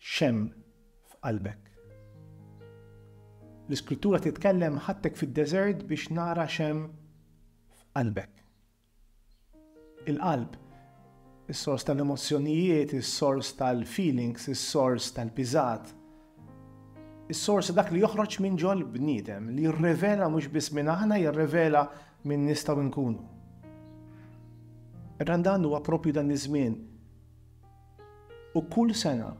X'hemm f'qalbek? L-Iskrittura titkellem, Ħadtek fid-deżert biex nara x'hemm f'qalbek. Il-qalb, is-sors tal-emozzjonijiet, is-sors tal-feelings, is-sors tal-piżat, is-sors ta' dak li joħroġ minn ġol-bniedem, li jirrevela mhux biss min aħna, jirrevela min nistgħu nkunu. Randan huwa proprju dan iż-żmien. U kull sena,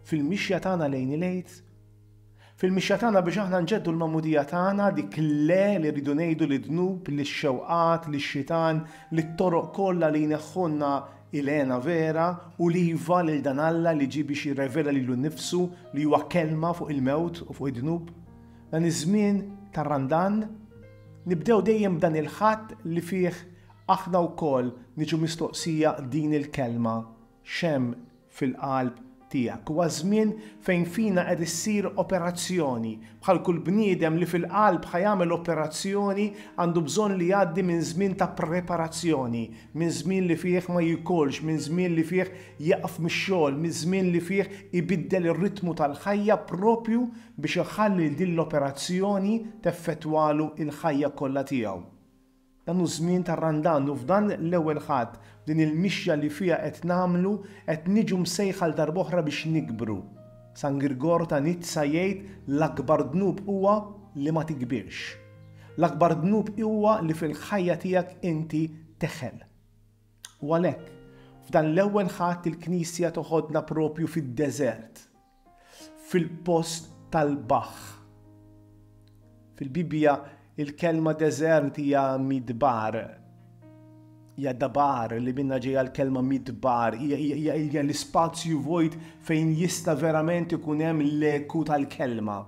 fil-mixja tagħna lejn il-Għid, fil-mixja tagħna biex aħna nġeddu l-magħmudija tagħna, dik il-le li rridu ngħidu lid-dnub, lix-xewqat, lix-xitan, lit-toroq kollha li jneħħulna il-hena vera u l-iva lil dan Alla li ġie biex jirrevela lilu nnifsu li huwa kelma fuq il-mewt u fuq id-dnub, dan iż-żmien tar-Randan, nibdew dejjem b'dan il-Ħadd li fih Aħna wkoll niġu mistoqsija din il-kelma, X'hemm fil-qalb tiegħek? Huwa żmien fejn fina qed issir operazzjoni. Bħal kull bniedem li fil-qalb ħa jagħmel operazzjoni għandu bżonn li jgħaddi minn żmien ta' preparazzjoni, minn żmien li fih ma jikolx, minn żmien li fih jieqaf mix-xogħol, minn żmien li fih ibiddel ir-ritmu tal-ħajja proprju biex iħalli lil din l-operazzjoni teffettwalu l-ħajja kollha tiegħu. Dan hu żmien ta' Randan u f'dan l-Ewwel Ħadd, f'din il-mixja li fiha qed nagħmlu, qed niġu msejħa għal darb'oħra biex nikbru. San Girgor ta' Nizza jgħid l-akbar dnub huwa li ma tikbirx. L-akbar dnub huwa li fil-ħajja tiegħek inti teħel. U għalhekk, f'dan l-Ewwel Ħadd il-Knisja toħodna proprju fid-deżert. fil-post tal-baħħ. Fil-Bibbja, il-kelma deżert hija midbar, hija dabar li minnha ġejja l-kelma midbar, hija l-ispazju vojt fejn jista' verament ikun hemm l-eku tal-kelma.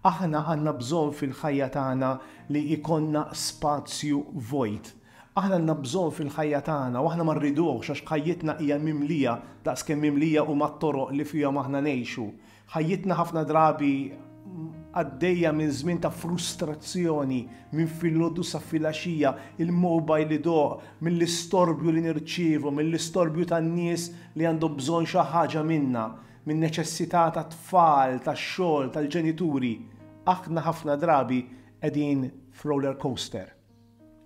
Aħna għandna bżonn fil-ħajja tagħna li jkollna spazju vojt, Aħna għandna bżonn fil-ħajja tagħna u aħna ma rriduhx għax ħajjitna hija mimlija daqs kemm mimlija huma t-toroq li fihom aħna ngħixu. Ħajjitna ħafna drabi għaddejja minn żmien ta' frustrazzjoni, minn filgħodu sa filgħaxija, il-mobile idoqq, mill-istorbju li nirċievu, mill-istorbju tan-nies li għandhom bżonn xi ħaġa minna, min-neċessità tat-tfal, tax-xogħol, tal-ġenituri. Aħna ħafna drabi qegħdin f'roller coaster.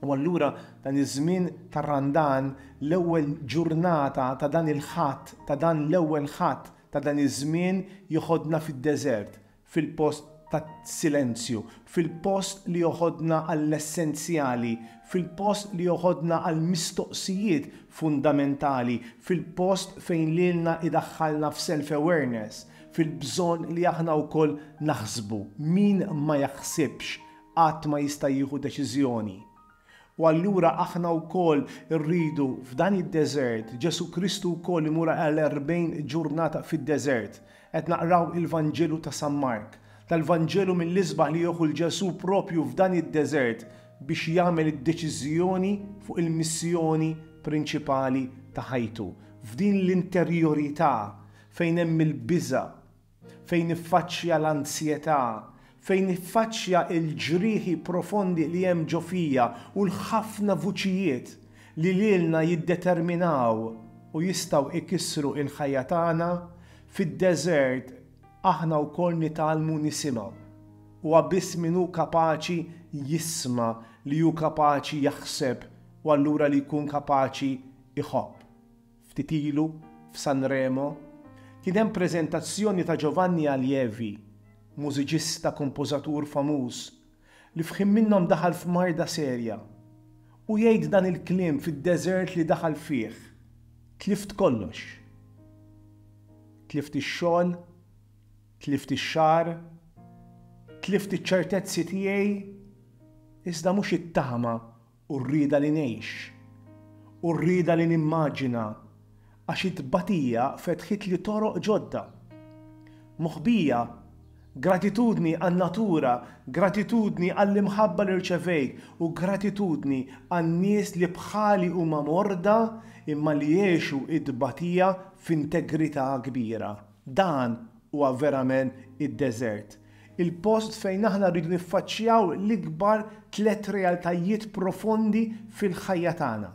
U allura dan iż-żmien tar-Randan, l-ewwel ġurnata ta' dan il-Ħadd, ta' dan l-ewwel Ħadd ta' dan iż-żmien joħodna fid-deżert, fil-post tas-silenzju, fil-post li joħodna għall-essenzjali, fil-post li joħodna għall-mistoqsijiet fundamentali, fil-post fejn lilna idaħħalna f'self-awareness, fil-bżonn li aħna wkoll naħsbu, min ma jaħsibx qatt ma jista' jieħu deċiżjoni. U allura aħna wkoll irridu f'dan id-deżert, Ġesù Kristu wkoll imur għal erbgħin ġurnata fid-deżert. Qed naqraw il-Vanġelu ta' San Mark, tal-Vanġelu mill-isbaħ li jieħu 'l Ġesù proprju f'dan id-deżert biex jagħmel id-deċiżjoni fuq il-missjoni prinċipali ta' ħajtu, f'din l-interjorità fejn hemm il-biża', fejn niffaċċja l-anzjetà, fejn niffaċċja l-ġrieħi profondi li hemm ġo fija u l-ħafna vuċijiet li lilna jiddeterminaw u jistgħu jkissru il-ħajja tagħna, fid-deżert aħna wkoll nitgħallmu nisimgħu. Huwa biss min hu kapaċi jisma' li hu kapaċi jaħseb u allura li jkun kapaċi jħobb. Ftit ilu, f'Sanremo, kien hemm preżentazzjoni ta' Giovanni Allievi, mużiċista kompożatur famuż, li f'ħin minnhom daħal f'marda serja. U jgħid dan il-kliem fid-deżert li daħal fih, Tlift kollox. Tlift ix-xogħol, tlift ix-xagħar, tlift iċ-ċertezzi tiegħi, iżda mhux it-tama u r-rieda li ngħix, u r-rieda li nimmaġina, għax it-tbatija fetħitli toroq ġodda. Moħbija, gratitudni għan-natura, gratitudni għall-imħabba li rċevejt, u gratitudni għan-nies li bħali huma morda imma li għexu t-tbatija f'integrità kbira. Dan huwa verament id-deżert. il-post fejn aħna rridu niffaċċjaw l-ikbar tliet realtajiet profondi fil-ħajja tagħna,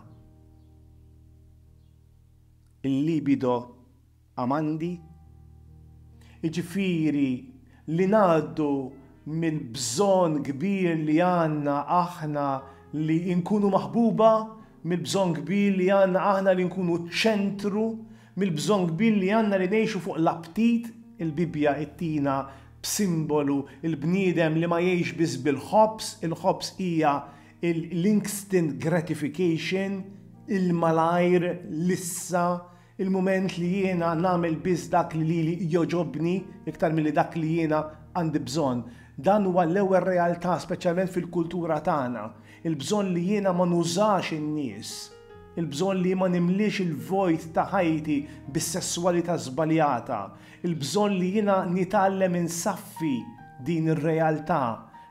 il-libido amandi, jiġifieri li ngħaddu mill-bżonn kbir li għandna aħna li nkunu maħbuba, mill-bżonn kbir li għandna aħna li nkunu ċ-ċentru, Mill-bżonn kbir li għandna li ngħixu fuq l-aptit, il-Bibbja ittina b'simbolu l-bniedem li ma jgħix biss bil-ħobż, il-ħobż hija l-instant gratification, il-malajr, l-issa, il-mument li jiena nagħmel biss dak li lili jogħġobni iktar milli dak li jiena għandi bżonn. Dan huwa l-ewwel realtà speċjalment fil-kultura tagħna. Il-bżonn li jiena ma nużax in-nies. Il-bżonn li ma nimliex il-vojt ta' ħajti bis-sesswalità żbaljata. Il-bżonn li jiena nitgħallem insaffi din ir-realtà,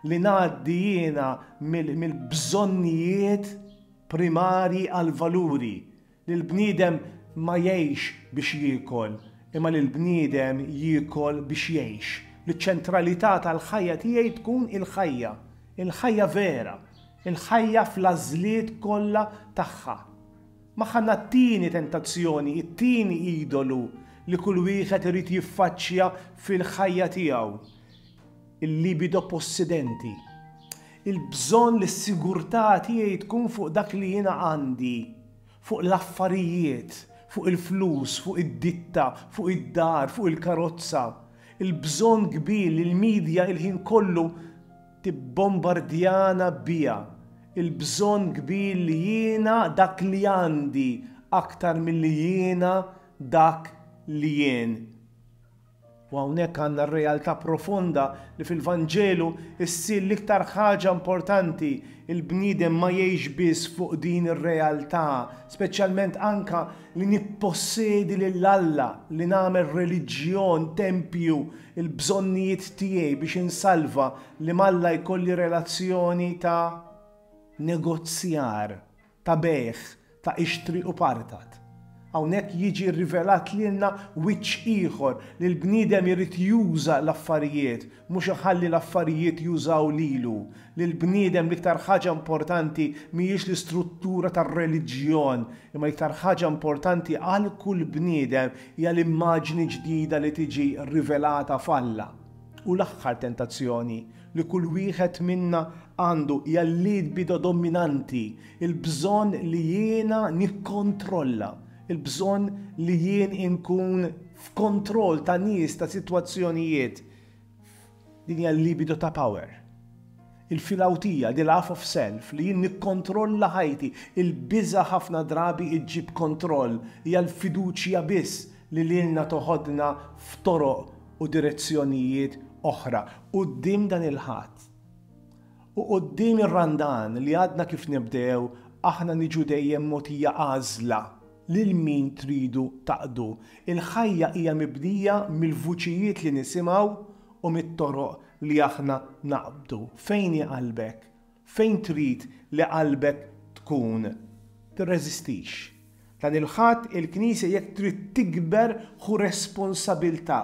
li ngħaddi jiena mill-bżonnijiet primarji għall-valuri, Li l-bniedem ma jgħixx biex jiekol, imma li l-bniedem jiekol biex jgħix. Li ċ-ċentralità tal-ħajja tiegħi tkun il-ħajja, il-ħajja vera, il-ħajja fl-għażliet kollha tagħha. Magħha għandna t-tieni tentazzjoni, it-tieni idolu li kull wieħed irid jiffaċċja fil-ħajja tiegħu. il-libido possidenti, il-bżonn li s-sigurtà tiegħi tkun fuq dak li jiena għandi, fuq l-affarijiet, fuq il-flus, fuq id-ditta, fuq id-dar, fuq il-karozza, il-bżonn kbir li l-midja il-ħin kollu tibbombardjana biha, il-bżonn kbir li jiena dak li għandi aktar milli jiena dak li jien. U hawnhekk għandna r-realtà profonda li fil-Vanġelu ssir l-iktar ħaġa importanti, il-bniedem ma jgħix biss fuq din ir-realtà, speċjalment anke li nippossedi lil Alla, li nagħmel reliġjon, tempju, il-bżonnijiet tiegħi biex insalva, li m'Alla jkolli relazzjoni ta' negozjar. ta' bejgħ ta' ixtri u partat. Hawnhekk jiġi rrivelat lilna wiċċ ieħor li l-bniedem irid juża l-affarijiet, mhux iħalli l-affarijiet jużaw lilu. Lill-bniedem l-iktar ħaġa importanti mhijiex l-istruttura tar-reliġjon, imma l-iktar ħaġa importanti għal kull bniedem hija l-immaġni ġdida li tiġi rrivelata f'Alla. U l-aħħar tentazzjoni, li kull wieħed minna għandu hija l-libido dominanti, il-bżonn li jiena nikkontrolla, il-bżonn li jien inkun f'kontroll ta' nies, ta' sitwazzjonijiet. Din hija l-libido ta' power. Il-filawtija, the laugh of self, li jien nikkontrolla ħajti, il-biża' ħafna drabi ġġib kontroll, hija l-fiduċja biss li lilna toħodna f'toroq u direzzjonijiet oħra quddiem dan il-Ħadd. U quddiem ir-Randan li għadna kif nibdew aħna niġu dejjem mogħtija għażla lil min tridu taqdu. Il-ħajja hija mibnija mill-vuċijiet li nisimgħu u mit-toroq li aħna naqbdu. Fejn hi qalbek? Fejn trid li qalbek tkun, tirreżistix. Dan il-Ħadd il-Knisja jekk trid tikber ħu responsabiltà.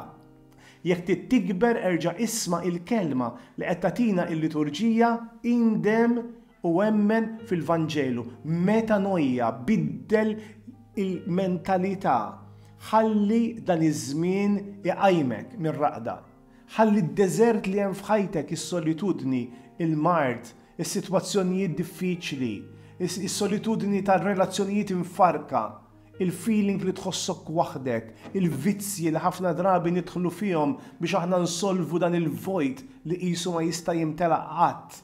Jekk trid tikber erġa' isma' il-kelma li qed tagħtina il-Liturġija indem u emmen fil-Vanġelu, metanoia, biddel il-mentalità, ħalli dan iż-żmien iqajmek mir-raqda. Ħalli d-deżert li hemm f'ħajtek, is-solitudni, il-mard, is-sitwazzjonijiet diffiċli, is-solitudni tar-relazzjonijiet imfarrka, il-feeling li tħossok waħdek, il-vizzji li ħafna drabi nidħlu fihom biex aħna nsolvu dan il-vojt li qisu ma jista' jimtela qatt,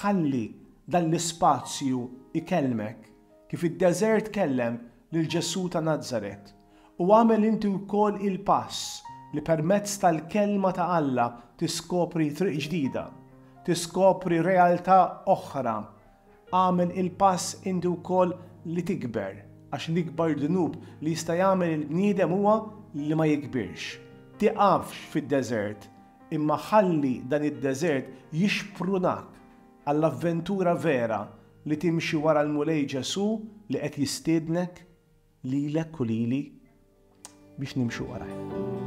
Ħalli dan l-ispazju jkellmek, kif id-deżert kellem lil Ġesù ta' Nazaret, u agħmel inti wkoll il-pass li permezz tal-Kelma ta' Alla tiskopri triq ġdida, tiskopri realtà oħra. Agħmel il-pass inti wkoll li tikber, għax l-ikbar dnub li jista' jagħmel il-bniedem huwa li ma jikbirx. Tiqafx fid-deżert. imma ħalli dan id-deżert jixprunak għall-avventura vera li timxi wara l-Mulej Ġesù li qed jistiednek lilek u lili biex nimxu warajh.